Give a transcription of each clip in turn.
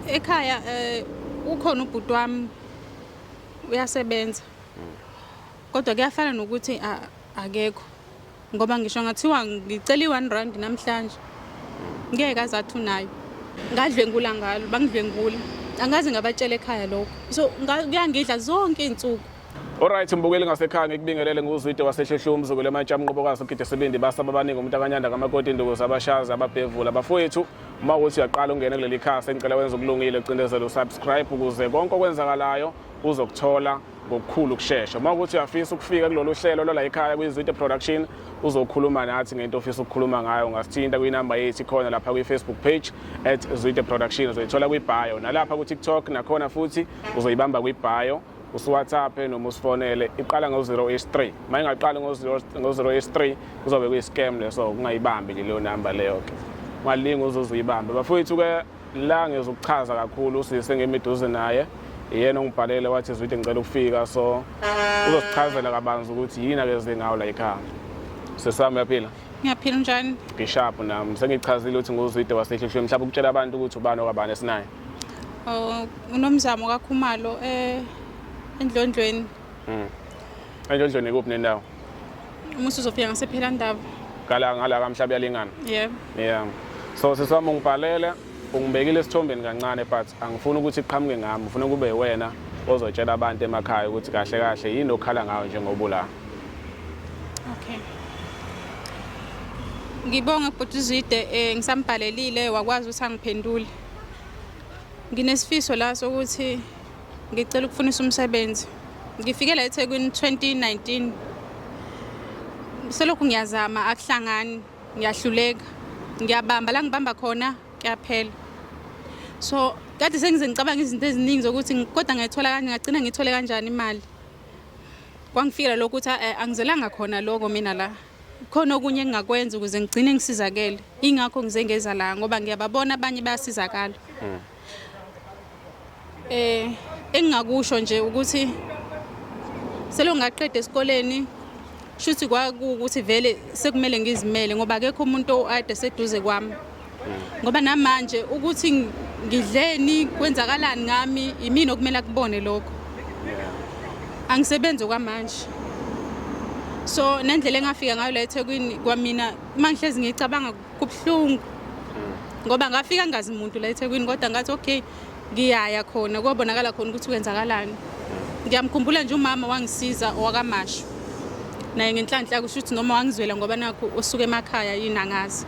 ekhaya eh, ukhona ubhuti wami uyasebenza kodwa kuyafana nokuthi a- akekho ngoba ngisho ngathiwa ngicela i-one rand namhlanje ngeke aze athi unayo ngadlwengula ngalo bangidlwengula angaze ngabatshela ekhaya lokho so nga- kuyangidla zonke iy'nsuku Alright mbukeli ngasekhaya ngikubingelele nguzwide waseshehlu umzukulu emantsha mnqobokazi ugide sibindi basaba abaningi umuntu akanyanda kamakoti induku zabashazi ababhevula bafowethu uma ukuthi uyaqala ungene kuleli khasi engicela wenza okulungile ucindezele usubscribe ukuze konke okwenzakalayo uzokuthola ngokukhulu ukushesha uma ukuthi uyafisa ukufika kulolu hlelo lwala ekhaya kwi-zwide production uzokhuluma nathi ngento ofisa ukukhuluma ngayo ungasithinta kwinamba yethu khona lapha kwi-facebook page at zwide production uzoyithola kwibhayo nalapha kutiktok nakhona futhi uzoyibamba kwibhayo usiwhatsappe noma usifonele iqala ngo-083 uma ingaqali ngo-083 kuzobe kuyi-scam leso kungayibambi nje leyo namba leyo-ke ungalingi uzuze uyibambe bafowethu-ke la ngizokuchaza kakhulu usise ngemiduze naye yena ongibhalele wathi zwide ngicela ukufika so uzosichazela kabanzi ukuthi yini akeze ngawo la yikhaya sesami uyaphila ngiyaphila njani ngishapu nami sengichazile ukuthi nguzwide wasehlihlweni mhlawumbe ukutshela abantu ukuthi ubani okwabani esinayo Oh, unomzamo kaKhumalo eh endlondlweni. Mm. Endlondlweni kuphi nendawo? Uma usuzofika ngasephela ndaba. Kala ngala kamhlaba yalingana. Yebo. Yeah. So sisami ungibhalele ungibekile esithombeni kancane but angifuni ukuthi iqhamuke ngami ngifuna kube wena ozotshela abantu emakhaya ukuthi kahle kahle yini okhala ngayo njengoba ula okay ngibonge bhuti uzide um ngisambhalelile wakwazi ukuthi angiphendule Nginesifiso la sokuthi ngicela ukufunisa umsebenzi. Ngifike la eThekwini 2019. Selokhu ngiyazama akuhlangani, ngiyahluleka. Ngiyabamba la ngibamba khona kuyaphela. So kade sengize ngicabanga izinto eziningi zokuthi kodwa ngayithola kanjani ngagcina ngithole kanjani imali. Kwangifikela lokho ukuthi eh, angizelanga khona lokho mina la. khona okunye engingakwenza ukuze ngigcine ngisizakele ingakho ngize ngeza la ngoba ngiyababona abanye bayasizakala hmm. eh engingakusho nje ukuthi selongaqeda esikoleni shuthi kwakuwukuthi vele sekumele ngizimele ngoba akekho umuntu oade seduze kwami ngoba namanje ukuthi ngidleni kwenzakalani ngami yimini okumele akubone lokho angisebenzi kwamanje so nendlela engafika ngayo la ethekwini kwamina uma ngihlezi ngicabanga kubuhlungu ngoba ngafika ngazi muntu la ethekwini kodwa ngathi okay ngiyaya khona kwabonakala khona ukuthi kwenzakalani ngiyamkhumbula nje umama wangisiza owakamashu naye ngenhlanhla kusho ukuthi noma wangizwela ngoba nakho usuke emakhaya yini angazi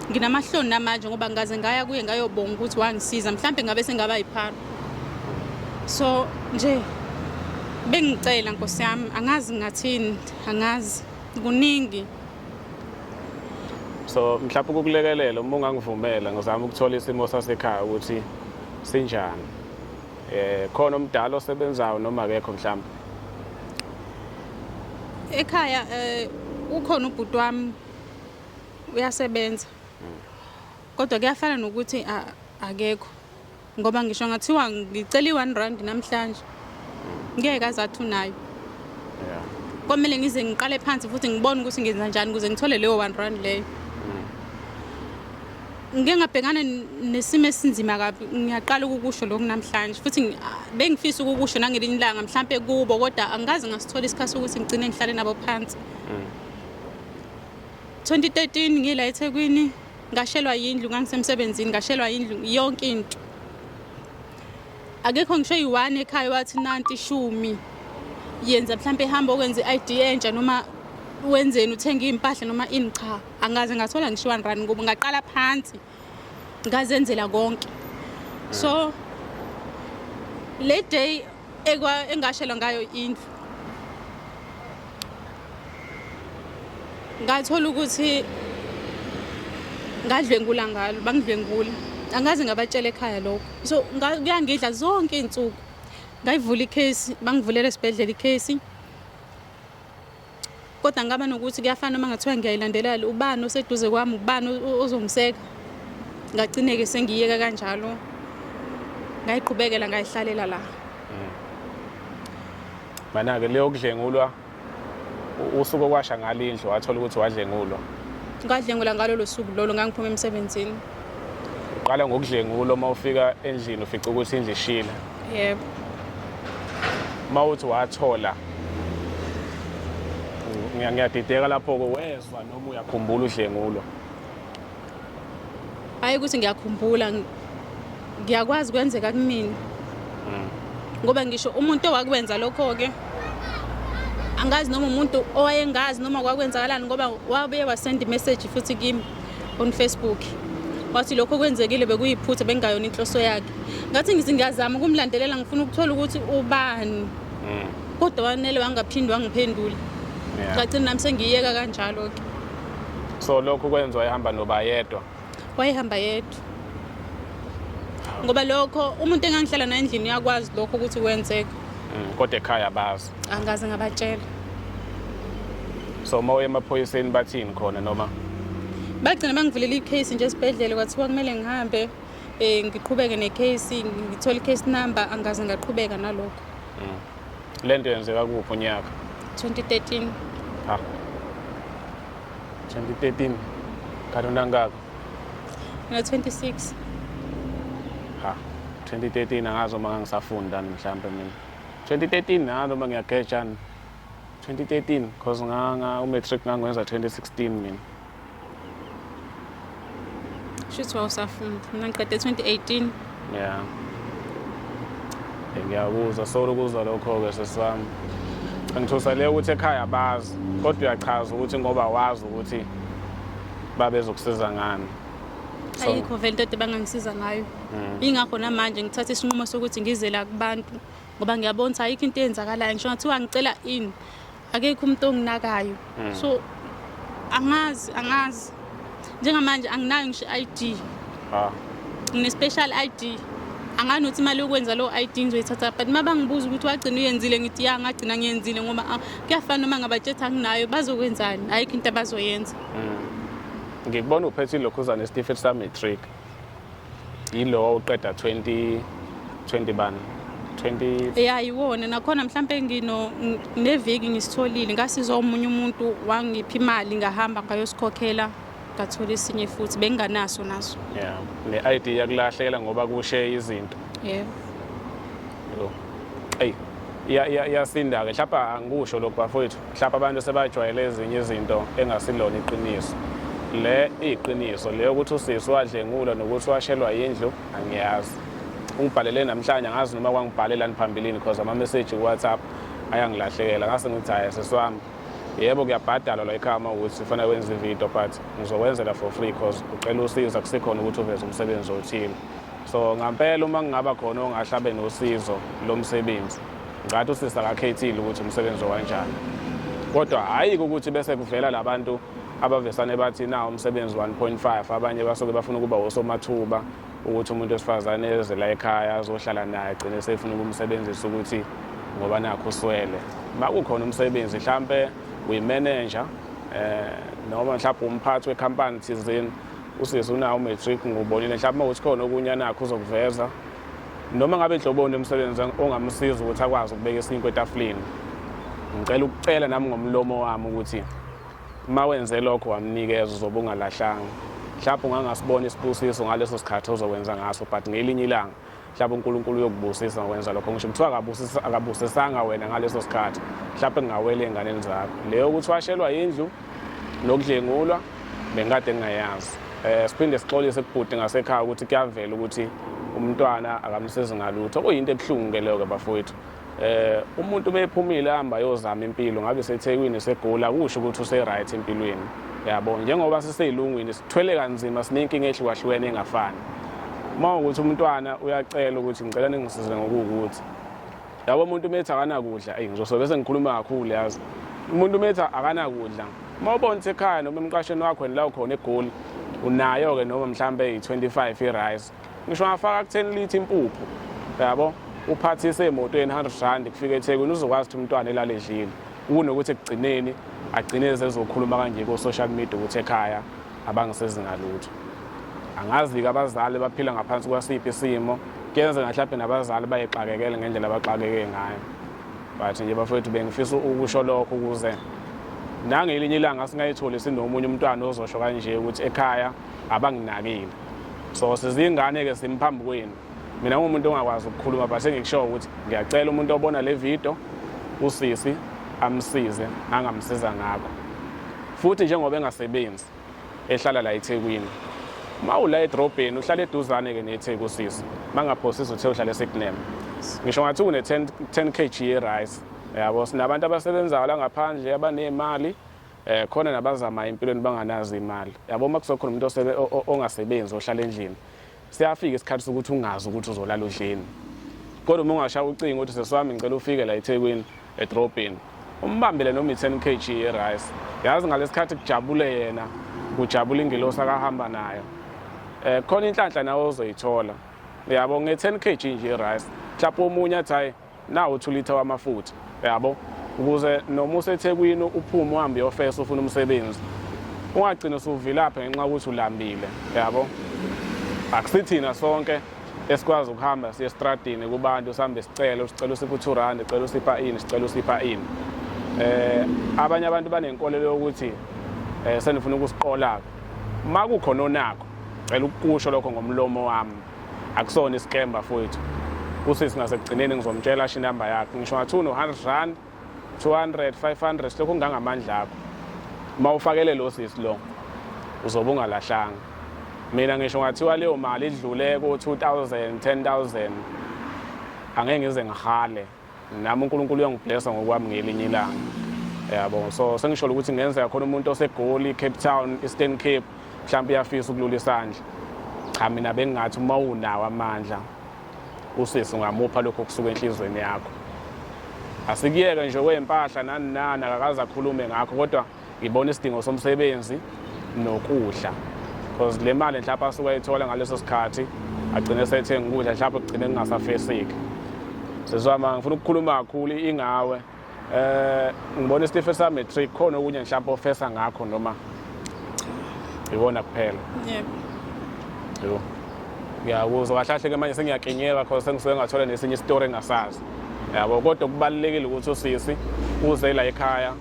nginamahloni namanje ngoba ngaze ngaya kuye ngayobonga ukuthi wangisiza mhlawumbe ngabe sengaba yiphara so nje bengicela nkosi yami angazi ngathini angazi kuningi so mhlawumbe ukukulekelela uma ungangivumela ngizama ukuthola isimo sasekhaya ukuthi sinjani eh khona omdala osebenzayo noma akekho mhlawumbe ekhaya eh ukhona ubhuti wami uyasebenza kodwa kuyafana nokuthi akekho ngoba ngisho ngathiwa ngicela i-one rand namhlanje ngeke azathi unayo yeah. kwamele ngize ngiqale phansi futhi ngibone ukuthi ngenza njani ukuze ngithole leyo one rand leyo mm. ngike ngabhekana nesimo esinzima kabi ngiyaqala ukukusho lokhu namhlanje futhi ah, bengifisa ukukusho nangelinye ilanga mhlawumpe kubo kodwa angikaze ngasithola isikhathi sokuthi ngigcine ngihlale nabo phansi mm. 2013 ngila ethekwini ngashelwa yindlu ngangisemsebenzini ngashelwa yindlu yonke into akekho ngisho eyi-one ekhaya wathi nanti ishumi yenza mhlawumpe ihambe okwenza i-id entsha noma wenzeni uthenge iy'mpahla noma ini cha angaze ngathola ngisho one run ngoba ngaqala phansi ngazenzela konke so le day engashelwa ngayo indlu ngathola ukuthi ngadlwengula ngalo bangidlwengula angazi ngabatshela ekhaya lokho so kuyangidla zonke iy'nsuku ngayivula ikhesi bangivulela esibhedlela ikhesi kodwa ngaba nokuthi kuyafana uma ngathiwa ngiyayilandelela ubani oseduze kwami ubani ozongiseka ngagcineke sengiyeka kanjalo ngayiqhubekela ngayihlalela la mm. mana-ke leyo kudlengulwa usuku okwasha ngalo indlu wathola ukuthi wadlengulwa ngadlengula ngalolo suku lolo ngangiphuma emsebenzini uqala ngokudlengula uma ufika endlini ufica ukuthi indlu ishile yebo uma uthi wathola ngiyadideka lapho-ke wezwa noma uyakhumbula udlengulo hhayi ukuthi ngiyakhumbula ngiyakwazi kwenzeka kumina mm. ngoba ngisho umuntu owakwenza lokho-ke angazi noma umuntu owayengazi noma kwakwenzakalani ngoba wabuye wasenda imeseji futhi kimi on Facebook wathi lokho kwenzekile bekuyiphutha bengayona inhloso yakhe ngathi ngithi ngiyazama ukumlandelela ngifuna ukuthola ukuthi ubani mm. kodwa wanele wangaphindi wangiphendula ngagcina nami sengiyeka kanjalo-ke so lokhu kwenza wayehamba noba yedwa wayehamba yedwa ngoba lokho umuntu engangihlala naye endlini uyakwazi lokho ukuthi kwenzeka mm, kodwa ekhaya bazi Angaze ngabatshela. So uma uye emaphoyiseni bathini khona noma? Bagcina bangivulela i-case nje esibhedlela kwathiwa kumele ngihambe eh ngiqhubeke ne-case ngithola i-case number angaze ngaqhubeka nalokho. Mm. Le nto yenzeka kuphi unyaka? 2013. Ha. 2013. Kanti unangaka? Ngina 26. Ha. 2013 angazi uma ngisafunda mhlawumbe mina. 2013 na noma ngiyagetshana 2013 because nganga umatric ngangwenza 2016 mina shuthi wawusafunda mina ngiqede 2018 yeah ngiyakuzwa solo ukuzwa lokho-ke sesami angithusa le ukuthi ekhaya abazi kodwa uyachaza ukuthi ngoba wazi ukuthi babezokusiza ngani ayikho vele into ede bangangisiza ngayo mm. ingakho namanje ngithatha isinqumo sokuthi ngizela kubantu ngoba ngiyabona ukuthi ayikho into eyenzakalayo ngisho ngathiwa ngicela ini akekho umuntu onginakayo mm. so angazi angazi njengamanje anginayo ngisho i-id ah. ngine-special i d angani ukuthi imali yokwenza lowo ID ngizoyithatha but uma bangibuza ukuthi wagcina uyenzile ngithi ya ngagcina ngiyenzile ngoba ah, kuyafana noma ngabatshetha nginayo bazokwenzani ayikho into abazoyenza mm. ngikubona uphethe ilokhuzane esitifiketi sami-matric yilowo uqeda 20 20 bani 20 ya yiwona nakhona mhlawumpe ngino neviki ngisitholile ngasizwa omunye umuntu wangipha imali ngahamba ngayosikhokhela ngathola esinye futhi benginganaso naso yeah ne-id yakulahlekela ngoba kushe izinto yebo yeah. eyi iyasinda-ke mhlawumpe angikusho lokhu bafowethu Mhlawumbe abantu sebajwayele ezinye izinto engasilona iqiniso. Le iqiniso le ukuthi usisi wadlengulwa nokuthi washelwa yindlu angiyazi. Ungibhalele namhlanje angazi noma kwangibhalelani phambilini because ama-message ku-WhatsApp ayangilahlekela ngase ngithi hhayi sisi wami yebo kuyabhadalwa la ekhaya uma ukuthi kufanele wenze ividiyo but ngizokwenzela for free because ucela usizo akusikhona ukuthi uveze umsebenzi othile so ngampela uma kungaba khona ongahlabe nosizo lo msebenzi Ngathi usisi akakhethile ukuthi umsebenzi owanjani kodwa hhayi ukuthi bese kuvela la bantu abavesane bathi na umsebenzi 1.5 abanye basuke bafuna ukuba wosomathuba ukuthi umuntu wesifazane eze la ekhaya azohlala naye agcine sefuna ukumsebenzisa ukuthi ngoba nakho uswele makukhona umsebenzi mhlampe uyimanager eh noma mhlawumbe umphathi wekhampani thizeni usisi unawo umatric ngubonile mhlawumbe ukuthi khona okunye anakho uzokuveza Noma ngabe nhloboni umsebenzi ongamsiza ukuthi akwazi ukubeka isinkwe etafuleni. Ngicela ukucela nami ngomlomo wami ukuthi uma wenze lokho wamnikeza uzobe ungalahlanga. Mhlawumbe ungangasibona isibusiso ngaleso sikhathi ozokwenza ngaso but ngelinye ilanga mhlawumbe uNkulunkulu uyokubusisa ngokwenza lokho ngisho kuthiwa akabusisanga wena ngaleso sikhathi mhlawumbe kungawela ey'nganeni zakho leyo ukuthi washelwa yindlu nokudlengulwa bengikade ngingayazi um siphinde sixolise kubhuti ngasekhaya ukuthi kuyavela ukuthi umntwana akamsizi ngalutho kuyinto ebuhlungu-ke leyo-ke bafowethu eh umuntu bephumile hamba yozama impilo ngabe sethekwini segula kusho ukuthi useright empilweni yabo njengoba siseyilungwini sithwele kanzima sinenkinga ehlukahlukene engafani uma ukuthi umntwana uyacela ukuthi ngicela ningisize ngokuwukuthi yabo umuntu umethi akanakudla eyi ngizosobe sengikhuluma kakhulu yazi umuntu umethi akanakudla uma ubona ukuthi ekhaya noma emqashweni wakho la ukhona egoli unayo-ke noma mhlawumbe eyi-25 i-rice ngisho ngafaka kutheni lithi impuphu yabo uphathise emotweni 100 rand kufika ethekwini uzokwazi ukuthi umntwana elale edlile kunokuthi ekugcineni agcine zezokhuluma kanje ko-social media ukuthi ekhaya Abangisizi ngalutho. Angazi-ke abazali baphila ngaphansi kwasiphi isimo. Kuyenzeka mhlawumbe nabazali bayixakekele ngendlela abaxakeke ngayo. But nje bafowethu bengifisa ukusho lokho ukuze nangelinye ilanga singayitholi sinomunye umntwana ozosho kanje ukuthi ekhaya abanginakile so sizingane-ke simphambi kwenu mina ngumuntu ongakwazi ukukhuluma but engikushoyo ukuthi ngiyacela umuntu obona le video usisi amsize angamsiza ngakho futhi njengoba engasebenzi ehlala la eThekwini uma ula edrobheni uhlala eduzane-ke netheku usisi uma ngaphosisa uthe uhlala esignem ngisho ngathi une-10 kg ye-rice yabo sinabantu abasebenzayo la ngaphandle abaney'mali eh khona nabazama empilweni banganazi imali yabo uma kuzokhona umuntu ongasebenzi ohlala endlini siyafika isikhathi sokuthi ungazi ukuthi uzolala udleni kodwa uma ungashaya ucingo ukuthi sesiwami ngicela ufike la ethekwini edrobheni umbambele noma i-ten k g yerice yazi ngalesikhathi kujabule yena kujabula ingilosi akahamba nayo um khona inhlanhla nawe ozoyithola uyabo nge-ten k g nje yerice mhlawumpe omunye athi hhayi nawo 2 liter wamafutha yabo ukuze noma usethekwini uphume uhambe uyofesa ufuna umsebenzi ungagcina usuvilaphe ngenxa ukuthi ulambile yabo akusithina sonke esikwazi ukuhamba siye estradini kubantu sihambe sicele sicela usipha u-two rand sicela usipha ini sicela usipha ini eh abanye abantu banenkolelo yokuthi eh senifuna ukusiqola-ke uma kukhona onakho cela ukukusho lokho ngomlomo wami akusona isikemba futhi usisi ngasekugcineni ngizomtshela asho inamba yakhe ngisho ngathi uno-hundred rand two hundred five hundred silokhu ngangamandla akho uma ufakele lo sisi lo uzobe ungalahlanga mina ngisho ngathiwa leyo mali idlule ko-two thousand ten thousand angeke ngize ngihale nami uNkulunkulu uyangiblessa ngokwami ngelinye ilanga yabo so sengisholo ukuthi ngenzeka khona umuntu osegoli Cape Town Eastern Cape mhlawumbe uyafisa ukulula isandla cha mina bengingathi uma unawo amandla usisi ungamupha lokho kusuka enhlizweni yakho asikuyeke nje kwempahla nani nani akakaze akhulume ngakho kodwa Ngibona isidingo somsebenzi nokudla because le mali mhlawumbe asuke ayithola ngaleso sikhathi agcine sethenga ukudla mhlawumbe kugcine kungasafeseki sezwama ngifuna ukukhuluma kakhulu ingawe eh ngibona isitife sa matric khona okunye mhlawumbe ofesa ngakho noma iwona kuphela yebo yebo ngiyakuzwa kahle kahle ke manje sengiyakinyeka because sengisuke ngathola nesinye isitori engasazi yabo kodwa kubalulekile ukuthi usisi uze la ekhaya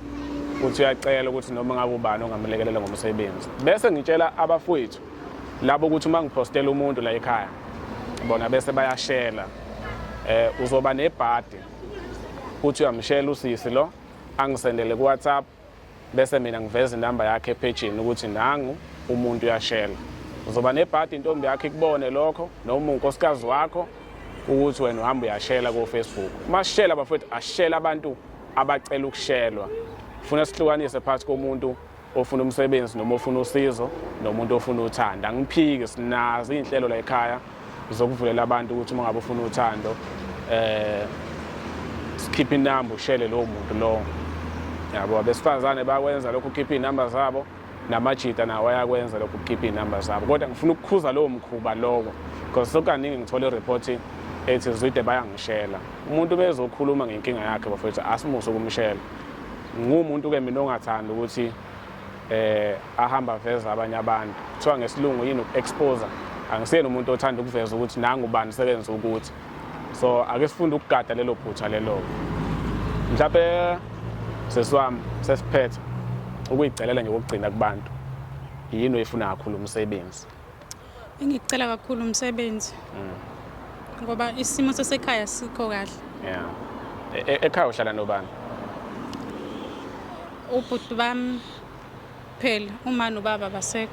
ukuthi uyacela ukuthi noma ngabe ubani ongamlekelela ngomsebenzi bese ngitshela abafowethu labo ukuthi uma ngiphostela umuntu la ekhaya bona bese bayashela eh uzoba nebhadi uthi uyamshela usisi lo angisendele ku WhatsApp bese mina ngiveza inamba yakhe ephejini ukuthi nangu umuntu uyashela uzoba nebhadi intombi yakhe ikubone lokho noma unkosikazi wakho ukuthi wena uhamba uyashela kofacebook uma sishela bafowethu ashela abantu abacela ukushelwa funa sihlukanise phakathi komuntu ofuna umsebenzi noma ofuna usizo nomuntu ofuna uthanda angiphiki sinazo iy'nhlelo la ekhaya zokuvulela abantu ukuthi uma ngabe ufuna uthando eh sikhiphe inamba ushele lowo muntu lowo yabo abesifazane bakwenza lokhu ukhiphe iy'namba zabo namajita nawo ayakwenza lokhu kukhipha iy'namba zabo kodwa ngifuna ukukhuza lowo mkhuba loko because sokaningi ngithole ireport ethi zwide bayangishela umuntu bezokhuluma ngenkinga yakhe bafethu asimuse ukumshela ngumuntu ke mina ongathanda ukuthi eh ahamba veza abanye abantu kuthiwa ngesilungu yini uku-exposer angisiyena umuntu othanda ukuveza ukuthi nangu bani sebenza ukuthi so ake sifunde ukugada lelo phutha lelo mhlawumbe sesi wami sesiphethe ukuyigcelela nje kokugcina kubantu yini oyifuna kakhulu umsebenzi engikucela kakhulu umsebenzi mm. ngoba isimo sasekhaya sikho kahle yeah e-, e-, ekhaya uhlala nobani ubhuti bami Phela uma nobaba abasekho.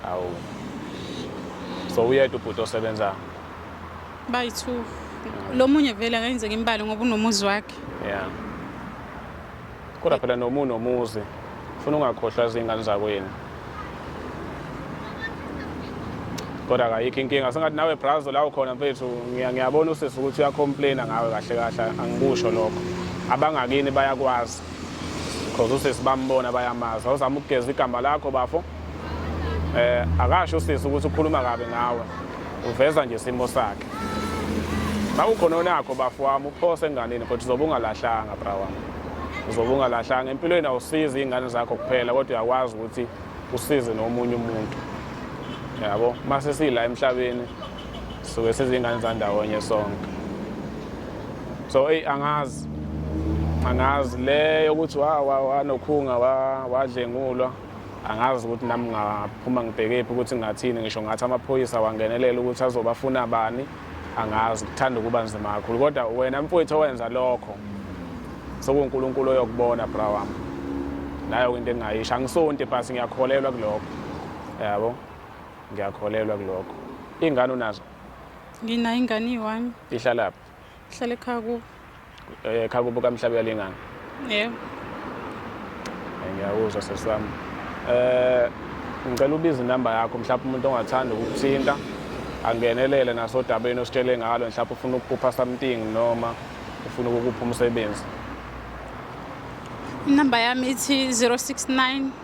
Awu. So uyedwa ubhuti osebenzayo. Bayi-two. Lo munye vele akayenzeki imbali ngoba unomuzi wakhe. Yeah. Kodwa phela noma unomuzi ufuna ungakhohlwa izingane zakho yena. Kodwa akayikho inkinga sengathi nawe brazo la ukhona mfethu ngiya- ngiyabona usisi ukuthi uyacomplaina ngawe kahle kahle angikusho lokho. Abangakini bayakwazi. cause usisi bambona bayamazi awuzama ukugeza igama lakho bafo eh akasho usisi ukuthi ukhuluma kabi ngawe uveza nje isimo sakhe bakukhona onakho bafo wami uphose enganeni kodwa uzobe ungalahlanga bra wami uzobe ungalahlanga empilweni awusizi iy'ngane zakho kuphela kodwa uyakwazi ukuthi usize nomunye umuntu yabo uma sesiyila emhlabeni suke sizingane zandawonye sonke so eyi angazi angazi le yokuthi wanokhunga wadlengulwa angazi ukuthi nami ngaphuma ngibhekephi ukuthi ngathini ngisho ngathi amaphoyisa wangenelela ukuthi azobafuna bani angazi kuthanda ukuba nzima kakhulu kodwa wena mfowethu owenza lokho sokunkulunkulu oyokubona bra wami nayo into engingayisho angisonti bhasi ngiyakholelwa kulokho yabo Ngiyakholelwa kulokho. Ingane unazo? Ngina ingane iyiwami. Ihlalaphi? Ihlala ekhaya kubo. Eh ekhaya kubo kamhlabe yalengane. Yebo. Eh, ngiyakuzwa sesami. Eh ngicela ubize inamba yakho mhlawumbe umuntu ongathanda ukuthinta angenelele nasodabeni ositshele ngalo mhlawumbe ufuna ukuphupha something noma ufuna ukukupha umsebenzi. Inamba yami ithi 069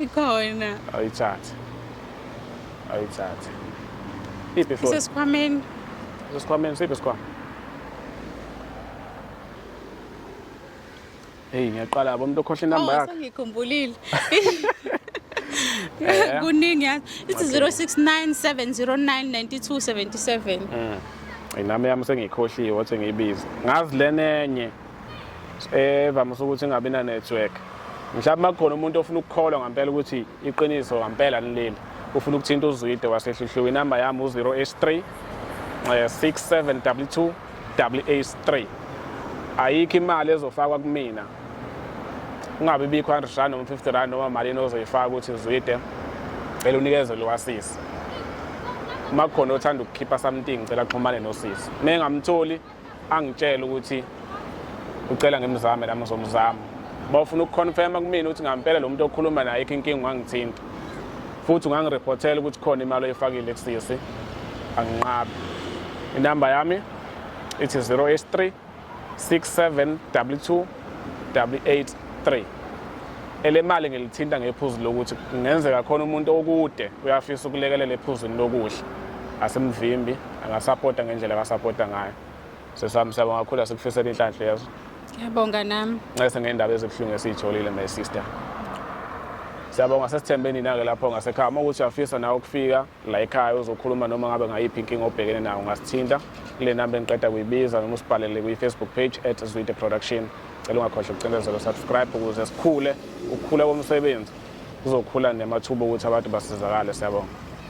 ikhona ayithathe ayithathe iphi foni sesikhwameni sesikhwameni siphi sikhwama heyi ngiyaqala bo umuntu okhohle inamba oh, yakhe ngikhumbulile eh. kuningi yazi ithi 069 709 9277 inami yami sengiyikhohliwe wathi ngiyibize ngazi lenenye evamise ukuthi ingabi na network mhlawumbe makukhona umuntu ofuna ukukholwa ngampela ukuthi iqiniso ngampela nileli ufuna ukuthinta uzwide wasehluhluka inamba yami u-083 67w2 83 ayikho imali ezofakwa kumina ungabe bikho 100 rand noma 50 rand noma malini ozoyifaka ukuthi zwide cela unikeze lo wasisi uma kukhona othanda ukukhipha something cela xhumane nosisi uma engamtholi angitshela ukuthi ucela ngimzame nami ngizomzama bawufuna ukuconfirma kumina ukuthi ngampela lo muntu okhuluma naye ikho inkinga ungangithinta futhi ungangireportela ukuthi khona imali oyifakile kusisi anginqabi inamba yami ithi 083 6722 W83 elemali ngilithinta ngephuzu lokuthi kungenzeka khona umuntu okude uyafisa ukulekelela ephuzwini lokudla asimvimbi angasapota ngendlela akasapota ngayo sesami siyabo ngakhula sikufisela inhlanhla yezo ngiyabonga nami ncese ngendaba ezibuhlungu esiyitholile my sister siyabonga sesithembe nina-ke lapho ngasekhaya uma ukuthi uyafisa nawe ukufika la ekhaya uzokhuluma noma ngabe ngayiphi inkinga obhekene nayo ungasithinta kule namba engiqeda kuyibiza noma usibhalele kwi-facebook page at zwide production cela ungakhohlwa ukucindezela subscribe ukuze sikhule ukukhula komsebenzi kuzokhula nemathuba ukuthi abantu basizakale siyabonga